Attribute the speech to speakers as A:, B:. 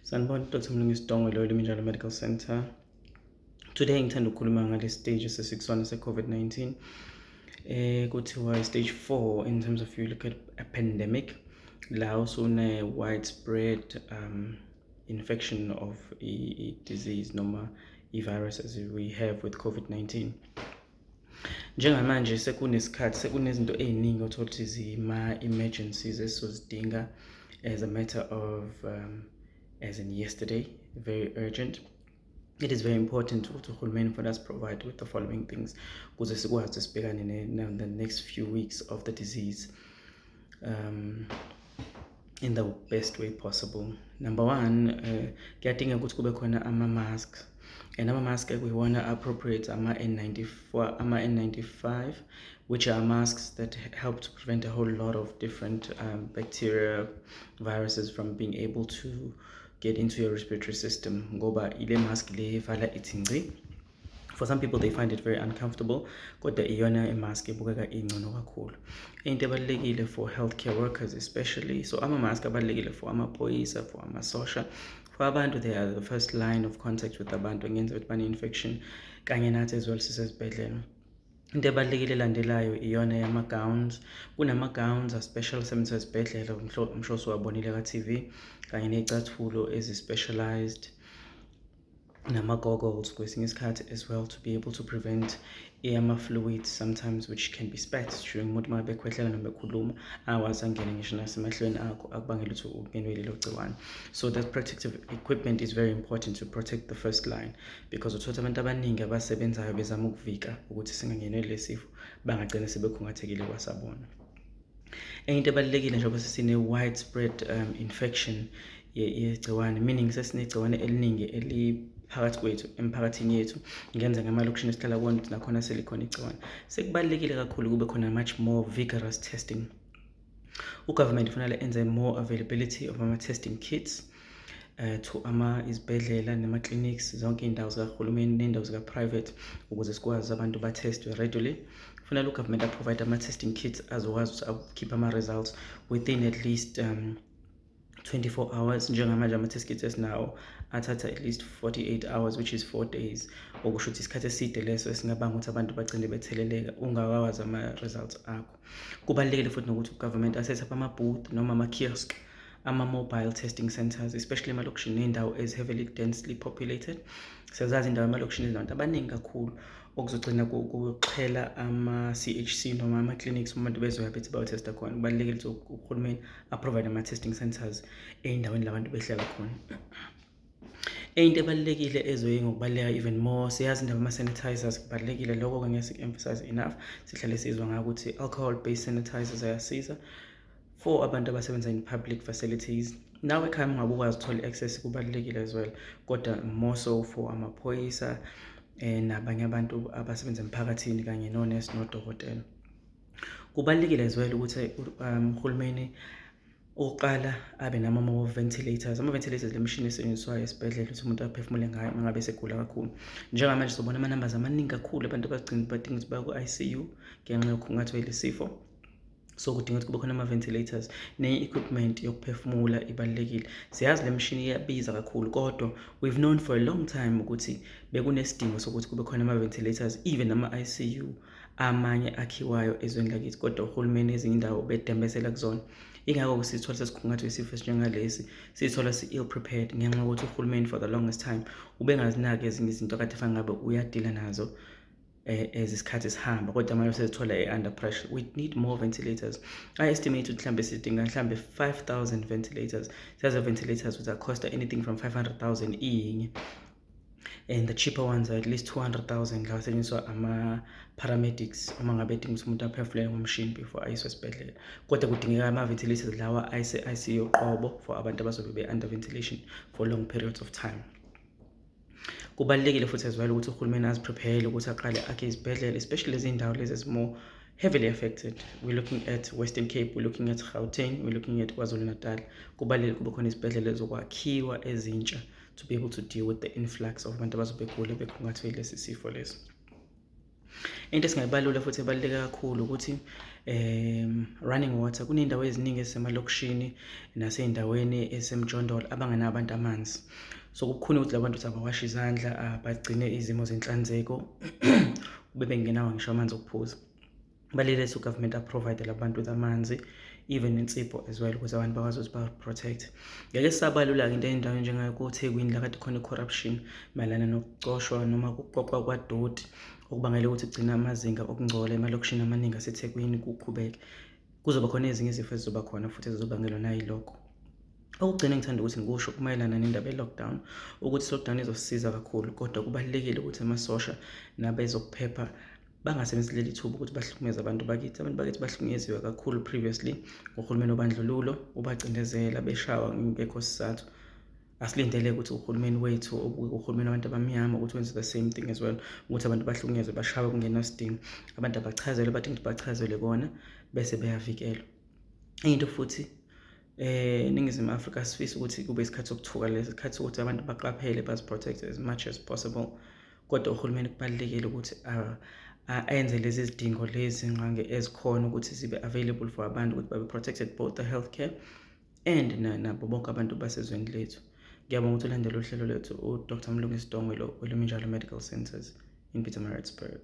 A: Sanibona Dr. Mlungisi Dongo lo Eliminjalo Medical Center. Today ngithanda ukukhuluma ngale stage sesikusona se-COVID-19. Eh kuthiwa stage 4 in terms of you look at a pandemic la usune widespread um infection of a disease noma i-virus as we have with COVID-19. Njengamanje sekunesikhathi sekunezinto ey'ningi othola ukuthi zima-emergencies esizozidinga as a matter of um, as in yesterday very urgent it is very important ukuthi uhulumeni for us provide with the following things kuze sikwazi sibhekane the next few weeks of the disease um in the best way possible number one eh, kuyadingeka uh, ukuthi kube khona ama-mask and ama-mask ekuyiwona appropriate ama-n94 ama-n95 which are masks that help to prevent a whole lot of different um, bacteria viruses from being able to get into your respiratory system ngoba ile mask le evala ithi ngci for some people they find it very uncomfortable kodwa iyona imask ebukeka ingcono kakhulu into ebalulekile for healthcare workers especially so ama-mask abalulekile for amaphoyisa for amasosha for abantu they are the first line of contact with abantu engenza ukuthi bane-infection kanye nathi as well sisezibhedlela into ebalulekile elandelayo iyona yama-gowns kunama-gowns aspecial sebenza ezibhedlela umshosi wabonile ka-tv kanye ney'cathulo ezi-specialized nama-goggles kwesinye isikhathi as well to be able to prevent ama-fluids sometimes which can be spat during umuntu uma bekhwehlela noma bekhuluma awazi angene ngisho nasemahlweni akho akubangela ukuthi ungenwe lelo gciwane so that protective equipment is very important to protect the first line because uthola abantu abaningi abasebenzayo bezama ukuvika ukuthi singangenwe lesi sifo bangagcina sebekhungathekile kwasabona enye into ebalulekile njengoba sesine-widespread um, infection yegciwane meaning sesinegciwane eliningi eli phakathi kwethu emphakathini yethu ngenza ngamalokishini esihlala kuwona ukuthi nakhona selikhona igciwane sekubalulekile kakhulu kube khona much more vigorous testing ugovernment kufanele enze more availability of ama-testing kits eh, to ama izibhedlela nema-clinics zonke iy'ndawo zikahulumeni ney'ndawo zika-private ukuze sikwazi abantu ba-testwe readily kufanele ugovernment aprovide ama-testing kits azokwazi ukuthi akhiphe ama-results within at least um, 24 hours njengamanje ama-test kits esinawo athatha at least 48 hours which is 4 days okusho ukuthi isikhathi eside leso esingabanga ukuthi abantu bagcine betheleleka ungakawazi ama-results akho Kubalulekile futhi nokuthi ugovernment asethe up ama-booth noma ama-kiosk ama-mobile testing centers especially emalokishini ney'ndawo ezi-heavily densely populated sezazi indawo emalokishini ezinabantu abaningi kakhulu okuzogcina kuxhela ama-c h c noma ama-clinics uma abantu bezoya bethi bayotesta khona kubalulekile ukuthi uhulumeni aprovide ama-testing centers ey'ndaweni la bantu behlala khona Eyinto ebalulekile ezoye ngokubaluleka even more siyazi indaba ama-sanitizers kubalulekile lokho-ke ngeke siku-emphasize enough sihlale sizwa ngayo ukuthi alcohol based sanitizers ayasiza for abantu abasebenza in public facilities nawe ekhaya ungabe ukwazi uthole i-access kubalulekile as well kodwa more so for amaphoyisa um nabanye abantu abasebenza emphakathini kanye nonesi nodokotela kubalulekile as well ukuthi um, uhulumeni um, ukuqala abe nama-ventilators ama-ventilators le mishini esetshenziswayo esibhedlela ukuthi umuntu aphefumule ngayo uma ngabe esegula kakhulu njengamanje sobona ama-numbers amaningi kakhulu abantu abagcina badinga ukuthi baya ku-i c u ngenxa yokukhungathwe lesifo so kudinga ukuthi kube khona ama-ventilators nenye equipment yokuphefumula ibalulekile siyazi le mishini iyabiza kakhulu kodwa we've known for a long time ukuthi bekunesidingo sokuthi kube khona ama-ventilators even ama-i c u amanye akhiwayo ezweni lakithi kodwa uhulumeni ezinye indawo bedembezela kuzona ingakho sithola sesikhungathwe isifo esinjengalesi sithola si-ill prepared ngenxa yokuthi uhulumeni for the longest time ubengazinaki ezinye izinto kade fanele ngabe uyadila nazo as eh, isikhathi sihamba kodwa manje sezithola e-under pressure we need more ventilators i estimate ukuthi mhlawumbe sidinga mhlawumbe 5000 ventilators siyazi ventilators with a cost anything from 500000 iyinye and the cheaper ones are at least 200,000 la asetshenziswa ama paramedics uma ngabe edinga ukuthi umuntu aphefule ngomshini before ayiswe esibhedlela kodwa kudingeka ama ventilators lawa ayise ICU qobo for abantu abazobe be under ventilation for long periods of time kubalekile futhi as well ukuthi uhulumeni aziprepare ukuthi aqale akhe izibhedlela especially lezi ndawo lezi ezimo heavily affected we're looking at Western Cape we're looking at Gauteng we're looking at KwaZulu-Natal kubalekile kube khona izibhedlela ezokwakhiwa ezintsha to be able to deal with the influx of abantu abazobe begule bekhungathwe lesi sifo lesi into esingayibalula futhi ebaluleke kakhulu ukuthi um running water kuney'ndawo eziningi ezisemalokishini nasey'ndaweni esemjondolo abangenawo abantu amanzi so kukhona ukuthi labantu ukuthi abawashe izandla bagcine izimo zenhlanzeko bebe ngenawo ngisho amanzi okuphuza balelise ugovernment aprovide labantu with amanzi even insipho as well ukuze abantu bakwazi ukuthi ba-protect ngeke sisabalula-ke into endawo njengayo kothekwini la kade khona i-corruption mayelana nokucoshwa noma kuqoqwa kwadoti okubangele ukuthi kugcina amazinga okungcola emalokishini amaningi asethekwini kuqhubeke kuzoba khona ezinye izifo ezizoba khona futhi ezizobangelwa nayilokho okugcina ngithanda ukuthi ngikusho kumayelana nendaba ye-lockdown ukuthi i-lockdown izosisiza kakhulu kodwa kubalulekile ukuthi amasosha nabezokuphepha bangasebenzisi leli thuba ukuthi bahlukumeze abantu bakithi abantu bakithi bahlukunyeziwe kakhulu previously ngohulumeni obandlululo ubacindezela beshawa ngekho sizathu asilindele ukuthi uhulumeni wethu uhulumeni wabantu abamnyama ukuthi wenze the same thing as well ukuthi abantu bahlukunyezwe bashawe kungenasidingo abantu abachazelwe bathi ngithi bachazelwe kona bese beyavikelwa enye into futhi eh ningizimu Afrika sifisa ukuthi kube isikhathi sokuthuka lesi sikhathi sokuthi abantu baqaphele baziprotect as much as possible kodwa uhulumeni kubalulekile ukuthi ayenze lezi zidingo lezi nqange ezikhona ukuthi zibe available for abantu ukuthi babe protected both the healthcare and nabo bonke abantu basezweni lethu ngiyabonga ukuthi ulandela uhlelo lwethu udr mlungisi dongwe lo weleminjalo medical centers in pietermaritzburg